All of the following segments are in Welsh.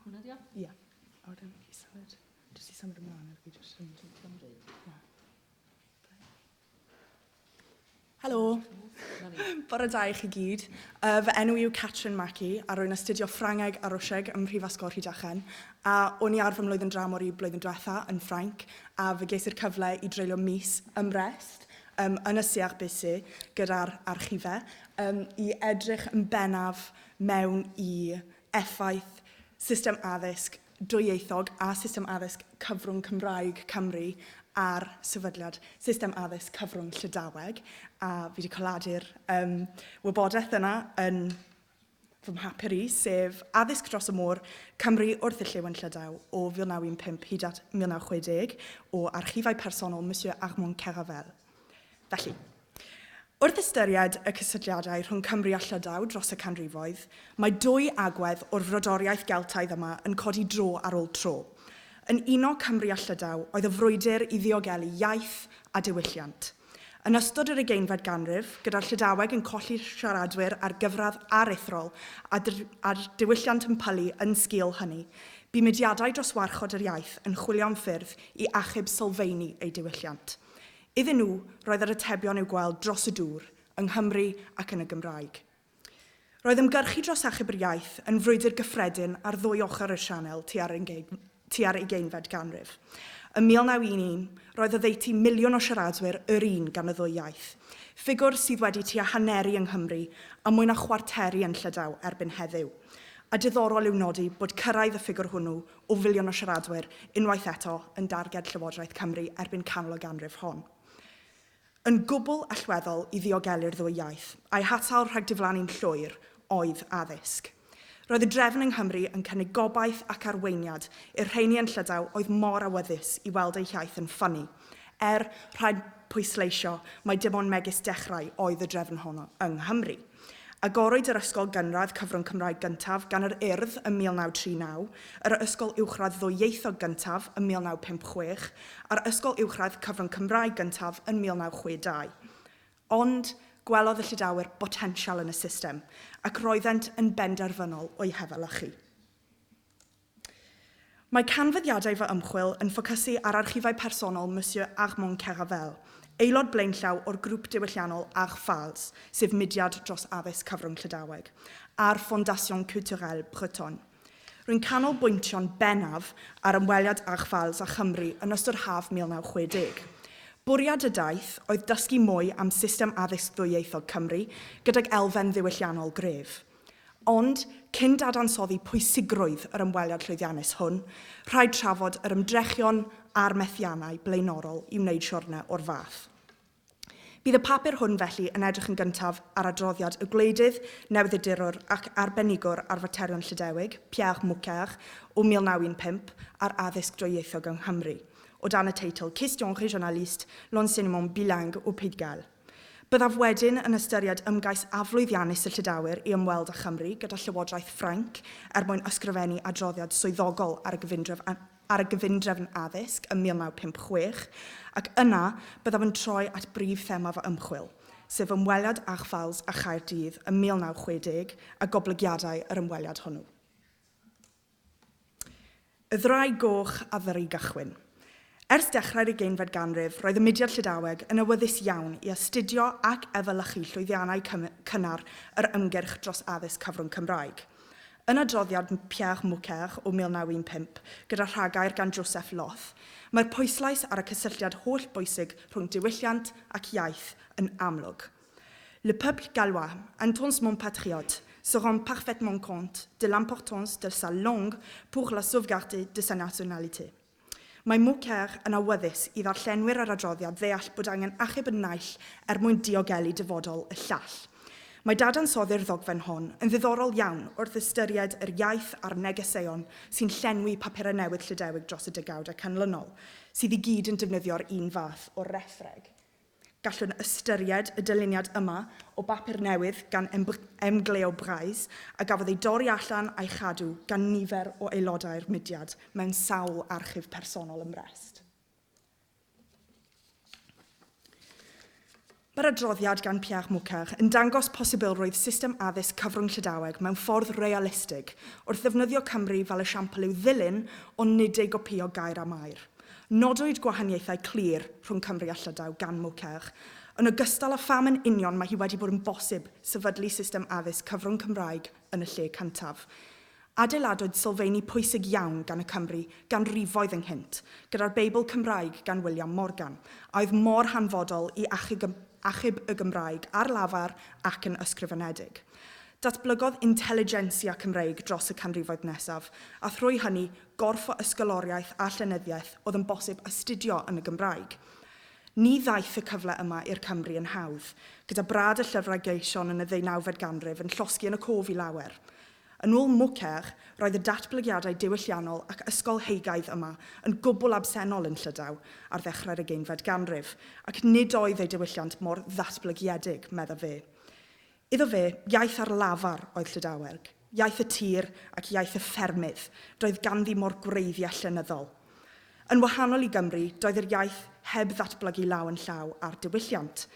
Hwnna di o? Ia. A wedyn i symud, jyst i symud ymlaen ar fi jyst yn teithio am bryd. Ia. Helo. Bore da i chi gyd. Uh, fy enw yw Catrin Mackey a rwy'n astudio Ffrangeg a Rwsieg ym Mhrifysgol Rhydychen a o'n i ar fy mlwyddyn dramor i blwyddyn diwetha yn Ffrainc a fe ges i'r cyfle i dreulio mis ym Mrest um, yn y Siach Bisi gyda'r archife um, i edrych yn bennaf mewn i effaith system addysg dwyieithog a system addysg cyfrwng Cymraeg Cymru ar sefydliad system addysg cyfrwng Llydaweg, a fi wedi coladu'r um, wybodaeth yna yn fy mhapur i, sef addysg dros y môr Cymru wrth y llew yn Llydaw o 1915 hyd at 1960 o archifau personol Monsieur Armand Keravel. Felly, wrth ystyried y cysylltiadau rhwng Cymru a Llydaw dros y canrifoedd, mae dwy agwedd o'r frodoriaeth Geltaidd yma yn codi dro ar ôl tro. Yn uno Cymru a Llydaw oedd y frwydr i ddiogelu iaith a diwylliant. Yn ystod yr ugeinfed ganrif, gyda'r Llydaweg yn colli siaradwyr ar gyfradd aruthrol a'r diwylliant yn pylu yn sgil hynny, bu mudiadau dros warchod yr iaith yn chwilio am ffyrdd i achub sylfeini eu diwylliant. Iddyn nhw, roedd yr atebion i'w gweld dros y dŵr, yng Nghymru ac yn y Gymraeg. Roedd ymgyrchu dros achub yr iaith yn frwydr gyffredin ar ddwy ochr y sianel tua'r tua'r ugeinfed ganrif. Ym 1911, roedd oddeutu miliwn o siaradwyr yr un gan y ddwy iaith, ffigwr sydd wedi tua haneru yng Nghymru a mwy na chwarteru yn Llydaw erbyn heddiw, a diddorol yw nodi bod cyrraedd y ffigwr hwnnw o filiwn o siaradwyr, unwaith eto, yn darged Llywodraeth Cymru erbyn canol y ganrif hon. Yn gwbl allweddol i ddiogelu'r ddwy iaith, a'i hatal rhag diflannu'n llwyr, oedd addysg. Roedd y drefn yng Nghymru yn cynnig gobaith ac arweiniad i'r rheini yn Llydaw oedd mor awyddus i weld eu hiaith yn ffynnu, er, rhaid pwysleisio, mai dim ond megis dechrau oedd y drefn honno yng Nghymru. Agorwyd yr ysgol gynradd cyfrwng Cymraeg gyntaf gan yr Urdd ym 1939, yr ysgol uwchradd ddwyieithog gyntaf ym 1956, a'r ysgol uwchradd cyfrwng Cymraeg gyntaf yn 1962. Ond, gwelodd y Llydawr botensial yn y system, ac roeddent yn benderfynol o'i hefelychu. Mae canfyddiadau fy ymchwil yn ffocysu ar archifau personol Monsieur Armand Keravel, aelod blaenllaw o'r grŵp diwylliannol Archfals, sef mudiad dros addysg cyfrwng Llydaweg, a'r Fondation Culturelle Bretonne. Rwy'n canolbwyntio'n bennaf ar ymweliad Archfals â Chymru yn ystod haf 1960. Bwriad y daith oedd dysgu mwy am system addysg ddwyieithog Cymru gydag elfen ddiwylliannol gref. Ond, cyn dadansoddi pwysigrwydd yr ymweliad llwyddiannus hwn, rhaid trafod yr ymdrechion a'r methiannau blaenorol i wneud siwrne o'r fath. Bydd y papur hwn felly yn edrych yn gyntaf ar adroddiad y gwleidydd, newyddiadurwr ac arbenigwr ar faterion Llydewig, Pierre Mouquard, o 1915, ar addysg dwyieithog yng Nghymru, o dan y teitl Questions régionalistes, l'enseignement bilingue au Pays de Galles. Byddaf wedyn yn ystyried ymgais aflwyddiannus y Llydawr i ymweld â Chymru gyda Llywodraeth Ffrainc er mwyn ysgrifennu adroddiad swyddogol ar y gyfundrefn ar y gyfundrefn addysg ym 1956, ac yna byddaf yn troi at brif thema fy ymchwil, sef ymweliad Achfalls a Chaerdydd ym 1960 a goblygiadau yr ymweliad hwnnw. Y Ddraig Goch a Thŷ Gychwyn. Ers dechrau'r ugeinfed ganrif, roedd y mudiad Llydaweg yn awyddus iawn i astudio ac efelychu llwyddiannau cynnar yr ymgyrch dros addysg cyfrwng Cymraeg. Yn adroddiad Pierre Mouquer o 1915, gyda rhagair gan Joseph Loth, mae'r pwyslais ar y cysylltiad hollbwysig rhwng diwylliant ac iaith yn amlwg. Le peuple gallois, un temps mon patriote, se rend parfaitement compte de l'importance de sa langue pour la sauvegarde de sa nationalité. Mae Moquer yn awyddus i ddarllenwyr yr adroddiad ddeall bod angen achub y naill er mwyn diogelu dyfodol y llall. Mae dadansoddi'r ddogfen hon yn ddiddorol iawn wrth ystyried yr iaith a'r negeseuon sy'n llenwi papurau newydd Llydewig dros y degawdau canlynol, sydd i gyd yn defnyddio'r un fath o rethreg. Gallwn ystyried y dyluniad yma o bapur newydd gan Emgleo Brais a gafodd ei dorri allan a'i chadw gan nifer o aelodau'r mudiad mewn sawl archif personol ym Mrest. Mae'r adroddiad gan Pierre Mouquer yn dangos posibilrwydd system addysg cyfrwng Llydaweg mewn ffordd realistig wrth ddefnyddio Cymru fel esiampl i'w ddilyn ond nid ei gopïo gair am air. Nodwyd gwahaniaethau clir rhwng Cymru a Llydaw gan Moukherg, yn ogystal â pham yn union mae hi wedi bod yn bosib sefydlu system addysg cyfrwng Cymraeg yn y lle cyntaf. Adeiladwyd sylfeini pwysig iawn gan y Cymry ganrifoedd ynghynt, gyda'r Beibl Cymraeg gan William Morgan, a oedd mor hanfodol i achub y Gymraeg ar lafar ac yn ysgrifenedig. Datblygodd intelligentsia Cymreig dros y canrifoedd nesaf, a thrwy hynny gorff o ysgoloriaeth a llenyddiaeth oedd yn bosib astudio yn y Gymraeg. Ni ddaeth y cyfle yma i'r Cymry yn hawdd, gyda brad y llyfrau gleision yn y ddeunawfed ganrif yn llosgi yn y cof i lawer. Yn ôl Mouquer, roedd y datblygiadau diwylliannol ac ysgolheigaidd yma yn gwbl absennol yn Llydaw ar ddechrau'r ugeinfed ganrif, ac nid oedd eu diwylliant mor ddatblygiedig, meddaf fe. Iddo fe, iaith ar lafar oedd Llydaweg, iaith y tir ac iaith y ffermydd, doedd ganddi mo'r gwreiddiau llenyddol. Yn wahanol i Gymru, doedd yr iaith heb ddatblygu law yn llaw â'r diwylliant,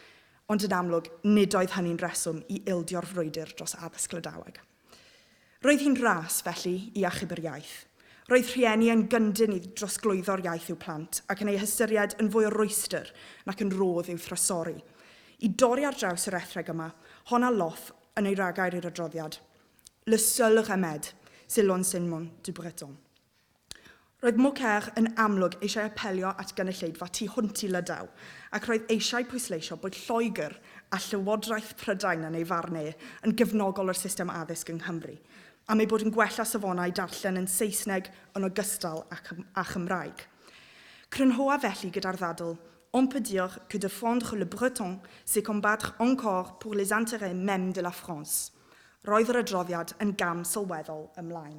ond yn amlwg nid oedd hynny'n reswm i ildio'r frwydr dros addysg Llydaweg. Roedd hi'n ras, felly, i achub yr iaith. Roedd rhieni yn gyndyn i drosglwyddo'r iaith i'w plant ac yn ei hystyried yn fwy o rwystr nac yn rhodd i'w thrysori. I dorri ar draws yr ethreg yma, hon a Loth yn ei ragair i'r adroddiad, Le seul remède, c'est l'enseignement du breton. Roedd Mukherg yn amlwg eisiau apelio at gynulleidfa tu hwnt i Lydaw, ac roedd eisiau pwysleisio bod Lloegr a Llywodraeth Prydain, yn ei farn e, yn gefnogol o'r system addysg yng Nghymru, am eu bod yn gwella safonau darllen yn Saesneg yn ogystal â Chymraeg. Crynhoa felly gyda'r ddadl, On peut dire que defendre le breton, c'est combattre encore pour les intérêts mêmes de la France. Roedd yr adroddiad yn gam sylweddol ymlaen.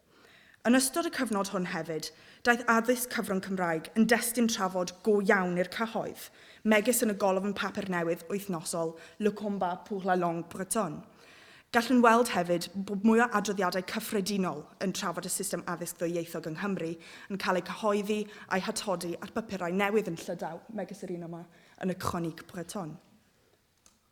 Yn ystod y cyfnod hwn hefyd, daeth addysg cyfrwng Cymraeg yn destun trafod go iawn i'r cyhoedd, megis yn y golofn papur newydd wythnosol Le combat pour la langue bretonne. Gallwn weld hefyd bod mwy o adroddiadau cyffredinol yn trafod y system addysg ddwyieithog yng Nghymru yn cael eu cyhoeddi a'u hatodi ar bapurau newydd yn Llydaw, megis yr un yma yn y Chronique bretonne.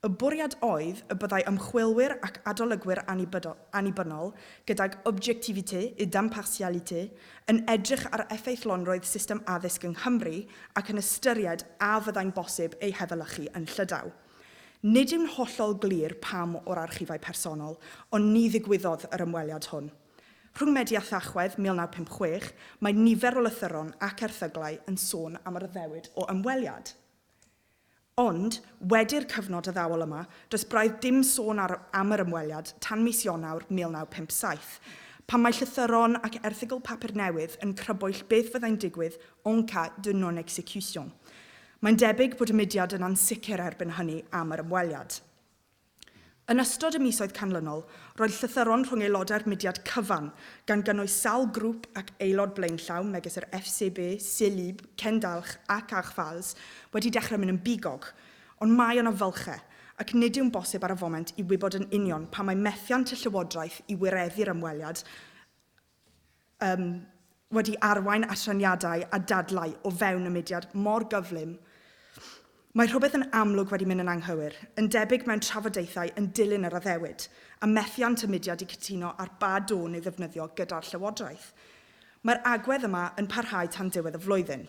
Y bwriad oedd y byddai ymchwilwyr ac adolygwyr annibynnol, gydag objectivité et d'impartialité, yn edrych ar effeithlonrwydd system addysg yng Nghymru ac yn ystyried a fyddai'n bosib ei hefelychu yn Llydaw. Nid yw'n hollol glir pam o'r archifau personol, ond ni ddigwyddodd yr ymweliad hwn. Rhwng Medi a Thachwedd 1956, mae nifer o lythyron ac erthyglau yn sôn am yr addewid o ymweliad. Ond, wedi'r cyfnod addawol yma, does braidd dim sôn ar, am yr ymweliad tan mis Ionawr 1957, pan mae llythyron ac erthygl papur newydd yn crybwyll beth fyddai'n digwydd en cas de non-exécution. Mae'n debyg bod y mudiad yn ansicr erbyn hynny am yr ymweliad. Yn ystod y misoedd canlynol, roedd llythyron rhwng aelodau'r mudiad cyfan, gan gynnwys sawl grŵp ac aelod blaenllaw megis yr FCB, CELIB, Cen Dalch ac Arch Vals, wedi dechrau mynd yn bigog. Ond mae yna fylchau, ac nid yw'n bosib ar y foment i wybod yn union pam mae methiant y llywodraeth i wireddu'r ymweliad um, wedi arwain at raniadau a dadlau o fewn y mudiad mor gyflym, mae rhywbeth yn amlwg wedi mynd yn anghywir, yn debyg mewn trafodaethau yn dilyn yr addewid, a methiant y mudiad i cytuno ar ba dôn ei ddefnyddio gyda'r Llywodraeth. Mae'r agwedd yma yn parhau tan diwedd y flwyddyn.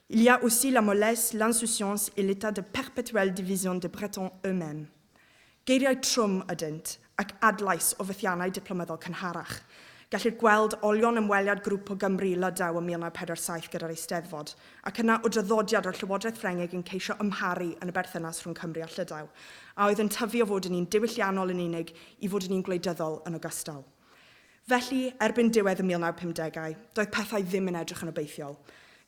Il y a aussi la mollesse, l'insouciance et l'état de perpétuelle division des Bretons eux-mêmes. Geiriau trwm ydynt, ac adlais o fethiannau diplomyddol cynharach. Gellir gweld olion ymweliad grŵp o Gymry i Lydaw ym 1947 gyda'r Eisteddfod, ac yna o draddodiad o'r Llywodraeth Ffrengig yn ceisio ymharu yn y berthynas rhwng Cymru a Llydaw, a oedd yn tyfu o fod yn un diwylliannol yn unig i fod yn un gwleidyddol yn ogystal. Felly, erbyn diwedd y 1950au, doedd pethau ddim yn edrych yn obeithiol.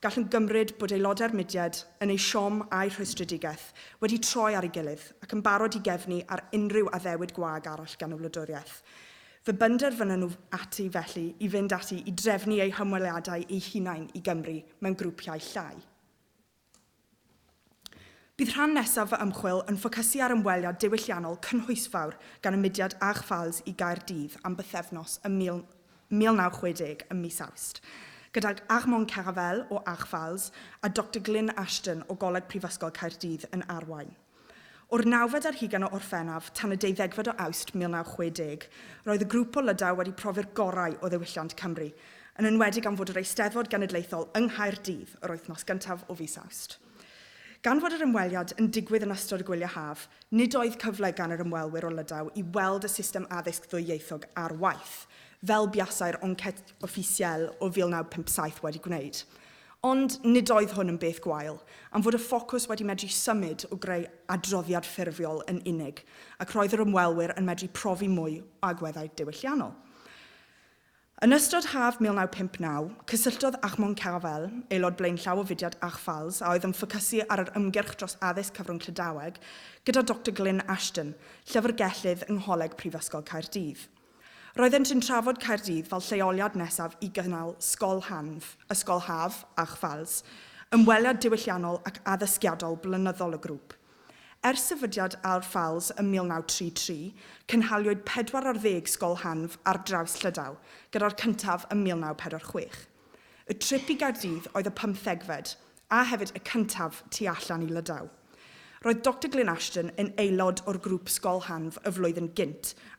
Gallwn gymryd bod aelodau'r mudiad, yn eu siom a'u rhwystredigaeth, wedi troi ar ei gilydd ac yn barod i gefnu ar unrhyw addewid gwag arall gan y wladwriaeth. Fe benderfynon nhw ati felly i fynd ati i drefnu eu hymweliadau eu hunain i Gymru mewn grwpiau llai. Bydd rhan nesaf fy ymchwil yn ffocysu ar ymweliad diwylliannol cynhwysfawr gan y mudiad AGFALS i Gaerdydd am bythefnos ym 1960 ym mis Awst, gydag Armand Caravelle o AGFALS a Doctor Glyn Ashton o Goleg Prifysgol Caerdydd yn arwain. O'r nawfed ar hugain o Orffennaf tan y deuddegfed o Awst 1960, roedd y grŵp o Lydaw wedi profi'r gorau o ddiwylliant Cymru, yn enwedig am fod yr Eisteddfod Genedlaethol yng Nghaerdydd yr wythnos gyntaf o fis Awst. Gan fod yr ymweliad yn digwydd yn ystod y gwyliau haf, nid oedd cyfle gan yr ymwelwyr o Lydaw i weld y system addysg ddwyieithog ar waith, fel buasai'r Enquête officielle o 1957 wedi gwneud. Ond nid oedd hwn yn beth gwael, am fod y ffocws wedi medru symud o greu adroddiad ffurfiol yn unig, ac roedd yr ymwelwyr yn medru profi mwy o agweddau diwylliannol. Yn ystod haf 1959, cysylltodd Achmon Cavell, aelod blaenllaw o fudiad Achfals a oedd yn ffocysu ar yr ymgyrch dros addysg cyfrwng Llydaweg, gyda Doctor Glyn Ashton, llyfrgellydd yng Ngholeg Prifysgol Caerdydd. Roeddent yn trafod Caerdydd fel lleoliad nesaf i gynnal Sgol Hanf, Ysgol Haf, a Chfals, ymweliad diwylliannol ac addysgiadol blynyddol y grŵp. Ers sefydliad Aur Ffales ym 1933, cynhaliwyd pedwar ar ddeg Sgol Hanf ar draws Llydaw, gyda'r cyntaf ym 1946. Y trip i Gaerdydd oedd y pymthegfed, a hefyd y cyntaf tu allan i Lydaw. Roedd Doctor Glyn Ashton yn aelod o'r grŵp Sgol Hanf y flwyddyn gynt,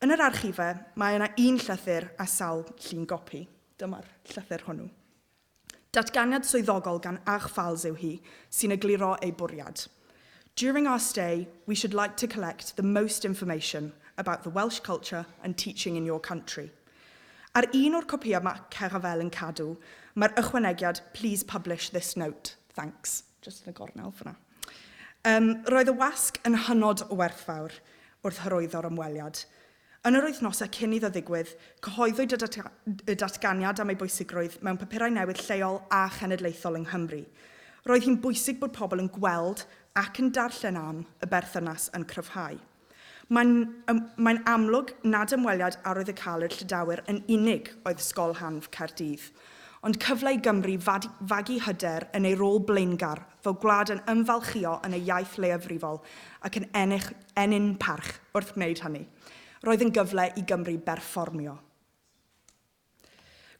Yn yr archife, mae yna un llythyr a sawl llun gopi. Dyma'r llythyr hwnnw. Datganiad swyddogol gan Ach Falls yw hi, sy'n egluro ei bwriad. During our stay, we should like to collect the most information about the Welsh culture and teaching in your country. Ar un o'r copïau mae Caravelle yn cadw, mae'r ychwanegiad Please publish this note. Thanks. Jyst yn y gornel fan'na. Yym, roedd y wasg yn hynod o werthfawr wrth hyrwyddo'r ymweliad. Yn yr wythnosau cyn iddo ddigwydd, cyhoeddwyd y datganiad am ei bwysigrwydd mewn papurau newydd lleol a chenedlaethol yng Nghymru. Roedd hi'n bwysig bod pobl yn gweld ac yn darllen am y berthynas yn cryfhau. Mae'n mae'n amlwg nad ymweliad arwyddocaolu'r Llydawr yn unig oedd Sgol Hanf Caerdydd, ond cyfle i Gymru fad, fagu hyder yn ei rôl blaengar fel gwlad yn ymfalchïo yn ei iaith leiafrifol ac yn ennill, ennyn parch wrth wneud hynny. Roedd yn gyfle i Gymru berfformio.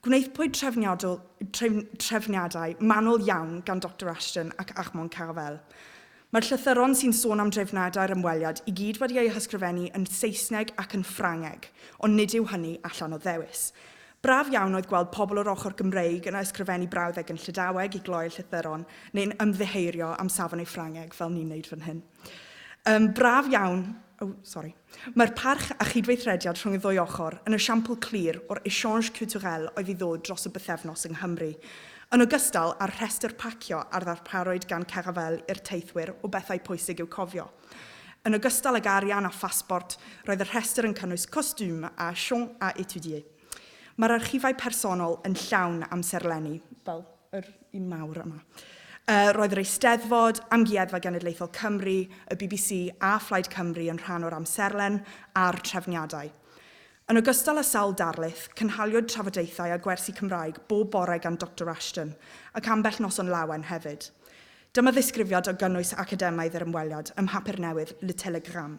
Gwnaethpwyd trefniadol, tref, trefniadau manwl iawn gan Doctor Ashton ac Armand Carvel. Mae'r llythyron sy'n sôn am drefniadau'r ymweliad i gyd wedi eu hysgrifennu yn Saesneg ac yn Ffrangeg, ond nid yw hynny allan o ddewis. Braf iawn oedd gweld pobl o'r ochr Gymreig yn ysgrifennu brawddeg yn Llydaweg i gloi'r llythyron, neu'n ymddiheurio am safon eu Ffrangeg fel ni'n wneud fan hyn. Um, braf iawn... Oh, sorry. Mae'r parch a chydweithrediad rhwng y ddwy ochr yn esiampl clir o'r échange culturel oedd i ddod dros y bythefnos yng Nghymru, yn ogystal â'r rhestr pacio a ddarparwyd gan Caravelle i'r teithwyr o bethau pwysig i'w cofio. Yn ogystal ag arian a phasbort, roedd y rhestr yn cynnwys costume a champs à étudier. Mae'r archifau personol yn llawn amserlenni, fel. yr un mawr yma. Yy, roedd yr Eisteddfod, Amgueddfa Genedlaethol Cymru, y bbc a Phlaid Cymru yn rhan o'r amserlen a'r trefniadau. Yn ogystal â sawl darlith, cynhaliwyd trafodaethau a gwersi Cymraeg bob bore gan Doctor Ashton, ac ambell noson lawen hefyd. Dyma ddisgrifiad o gynnwys academaidd yr ymweliad ym mhapur newydd Le Telegramme.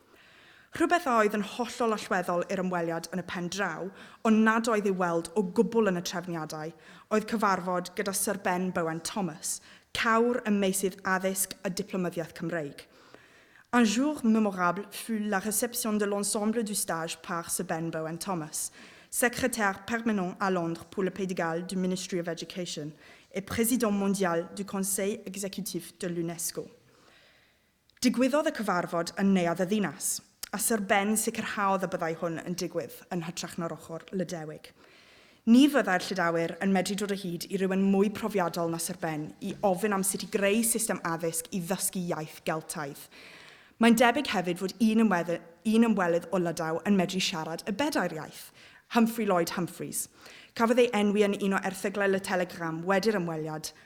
Rhywbeth a oedd yn hollol allweddol i'r ymweliad yn y pen draw, ond nad oedd i'w weld o gwbl yn y trefniadau, oedd cyfarfod gyda Syr Ben Bowen Thomas, cawr ym meysydd addysg a diplomyddiaeth Cymreig. Un jour memorable fut la réception de l'ensemble du stage par Sir Ben Bowen Thomas, Secrétaire permanent à Londres pour le Pays de Galles du Ministry of Education et Président mondial du Conseil exécutif de l'UNESCO. Digwyddodd y cyfarfod yn Neuadd y Ddinas, a Syr Ben sicrhaodd y byddai hwn yn digwydd yn hytrach na'r ochr Lydewig. Ni fyddai'r Llydawyr yn medru dod o hyd i rywun mwy profiadol na Syr Ben i ofyn am sut i greu system addysg i ddysgu iaith Geltaidd. Mae'n debyg hefyd fod un ymweddy- un ymwelydd o Lydaw yn medru siarad y bedair iaith, Humphrey Lloyd Humphreys. Cafodd ei enwi yn un o erthyglau Le Telegramme wedi'r ymweliad,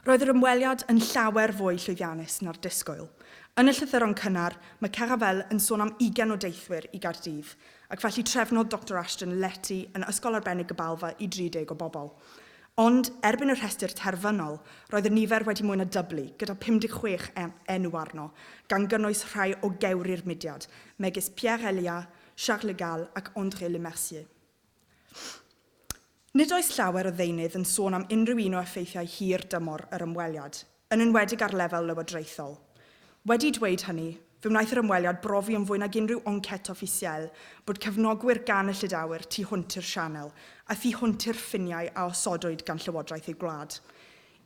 Roedd yr ymweliad yn llawer fwy llwyddiannus na'r disgwyl. Yn y llythyron cynnar, mae Caravelle yn sôn am 20 o deithwyr i Gaerdydd, ac felly trefnodd Doctor Ashton lety yn Ysgol Arbennig Gabalfa i 30 o bobl. Ond, erbyn y rhestr terfynol, roedd y nifer wedi mwy na dyblu, gyda 56 enw arno, gan gynnwys rhai o gewri'r mudiad, megis Pierre Elia, Charles Le Gall ac André Lemercier. Nid oes llawer o ddeunydd yn sôn am unrhyw un o effeithiau hir dymor yr ymweliad, yn enwedig ar lefel lywodraethol. Wedi dweud hynny, fe wnaeth yr ymweliad brofi yn fwy nag unrhyw enquête officielle bod cefnogwyr gan y Llydawr tu hwnt i'r Sianel a thu hwnt i'r ffiniau a osodwyd gan llywodraeth eu gwlad.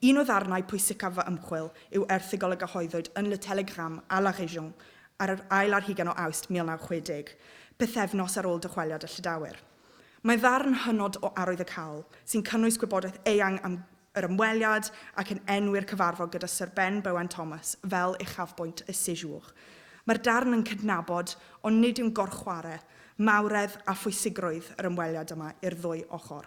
Un o ddarnau pwysicaf fy ymchwil yw erthygl a gyhoeddwyd yn Le Télégramme à la Région ar yr ail ar hugain o Awst 1960, pythefnos ar ôl dychweliad y Llydawr. Mae ddarn hynod o arwyddocaol, sy'n cynnwys gwybodaeth eang am yr ymweliad ac yn enwi'r cyfarfod gyda Syr Ben Bowen Thomas fel uchafbwynt y sejour. Mae'r darn yn cydnabod, ond nid yw'n gorchware, mawredd a phwysigrwydd yr ymweliad yma i'r ddwy ochr.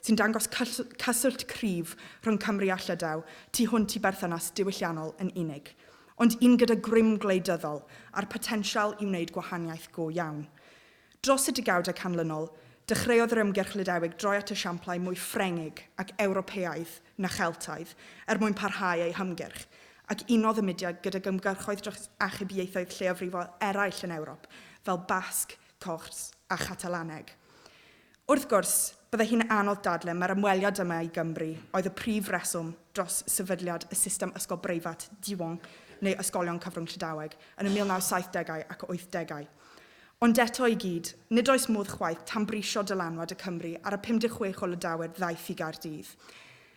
sy'n dangos cyswllt cryf rhwng Cymru a Llydaw tu hwnt i berthynas diwylliannol yn unig, ond un gyda grym gwleidyddol a'r potensial i wneud gwahaniaeth go iawn. Dros y degawdau canlynol, dechreuodd yr ymgyrch Lydewig droi at esiamplau mwy Ffrengig ac Ewropeaidd na Cheltaidd er mwyn parhau ei hymgyrch, ac unodd y mudiad gydag ymgyrchoedd dros achub ieithoedd lleiafrifol eraill yn Ewrop, fel Basg, Corts a Chatalaneg. Wrth gwrs, byddai hi'n anodd dadlau mai'r ymweliad yma i Gymru oedd y prif reswm dros sefydliad y system ysgol breifat Diwan neu ysgolion cyfrwng Llydaweg yn y 1970au ac 80au. Ond eto i gyd, nid oes modd chwaith tanbrisio dylanwad y Cymry ar y 56 o Lydawyr ddaeth i Gaerdydd.